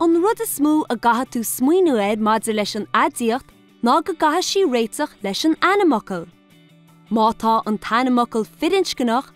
An rud is mó a gcaithfidh tú smaoiniú air maidir leis an aidiacht ná go gcaithfidh sí réiteach leis an ainmfhocal. Má tá an t-ainmfhocal firinscneach,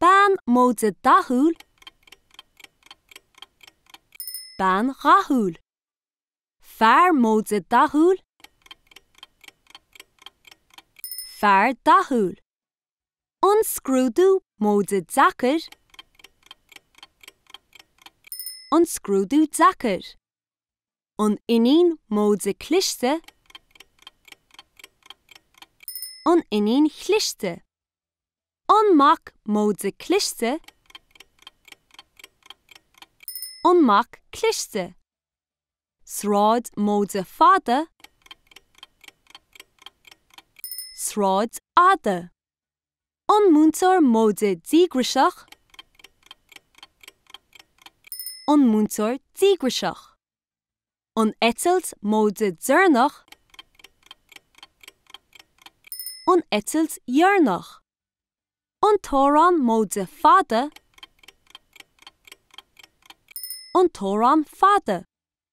bean móide dathúil, bean dhathúil, fear móide dathúil, fear dathúil, an scrúdú móide deacair, an scrúdú deacair. an iníon móide cliste, an iníon chliste, an mac móide cliste, an mac cliste, sráid móide fada, sráid fhada. An múinteoir móide díograiseach? An múinteoir díograiseach? An eitilt móide deireanach? An eitilt dheireanach? An t-amhrán móide fada? An t-amhrán fada?